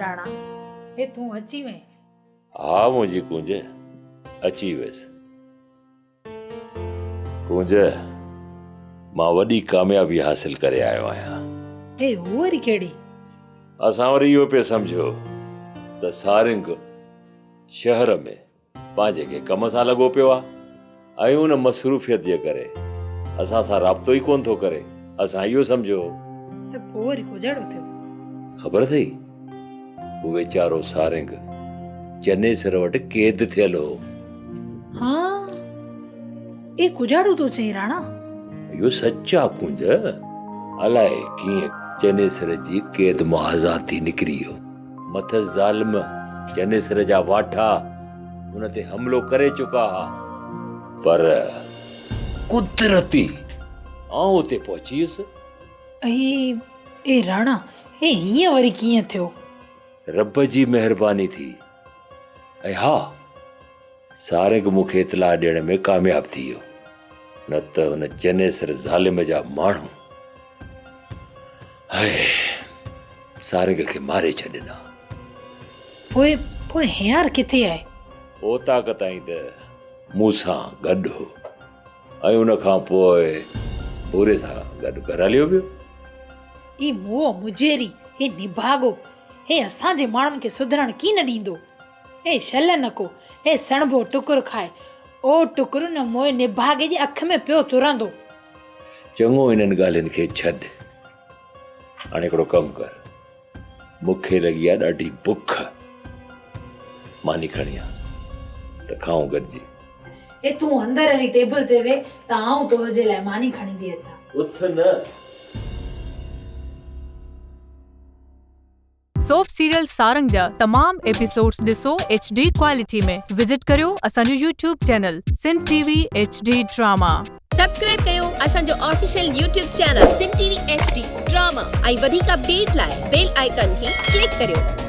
راڻا، هي تون اچي وئين؟ ها منهنجي ڪونج، اچي ويس. ڪونج، مان وڏي ڪاميابي حاصل ڪري آيو آهيان. هي هو وري ڪهڙي؟ اسان وري اهو پئي سمجهيو ته سارنگ شهر ۾. پنهنجي ڪنهن ڪم سان لڳو پيو آ ۽ ان مصروفيت جي ڪري اسان سان رابطو ئي ڪونه ٿو ڪري. اسان اهو سمجهيو هو. ته پوء وري ڪوجهڙو ٿيو. خبر اٿئي؟ هو ويچارو سارنگ چنيسر وٽ قيد ٿيل هو. ها، اي ڪوجهڙو ٿو چئين راڻا. اهو سچ آ ڪونج. الائي ڪيئن چنيسر جي قيد مان آزاد ٿي نڪري ويو. مٿس ظالم چنيسر جا واٺا ان تي حملو ڪري چڪا ها پر قدرتي آئون اتي پهچي ويس. اي اي راڻا هي هيئن وري ڪيئن ٿيو؟ رب جي مهرباني ٿي ۽ ها سارنگ مون کي اطلاع ڏيڻ ۾ ڪامياب ٿي ويو نه ته هن چنيسر ظالم جا ماڻهو سارنگ کي ماري ڇڏين ها پوء پوء هيار ڪٿي آهي اوطاق تائين ته مون سان گڏ هو ۽ ان کان پوء پوري سان گڏ گهر هليو ويو هي موهه مجيري هي نڀاڳو هي اسان جي ماڻهن کي سڌرڻ ڪين ڏيندو اي شل نڪو، اي سڻڀو ٽڪر کاء، او ٽڪر نه موء نڀاڳي جي اک ۾ پيو ترندو. چڱو انهن ڳالهين کي ڇڏ، هاڻي هڪڙو ڪم ڪر، مون کي لڳي آ ڏاڍي بک، ماني کڻي آ ته کائون گڏجي. اي تون اندر هلي ٽيبل تي ويهه ته آئون تنهنجي لاء ماني کڻي ٿي اچان. اٿ نه! سوپ سيريل سارنگ جا تمام ايپيسوڊز ڏسو ايڇ ڊي ڪوالٽي ۾ وزٽ ڪريو اسان جو YouTube channel Sindh T V H D drama. Subscribe ڪيو اسان جو official YouTube channel Sindh T V H D drama ۽ وڌيڪ اپڊيٽ لاء بيل آئيڪان کي ڪلڪ ڪريو.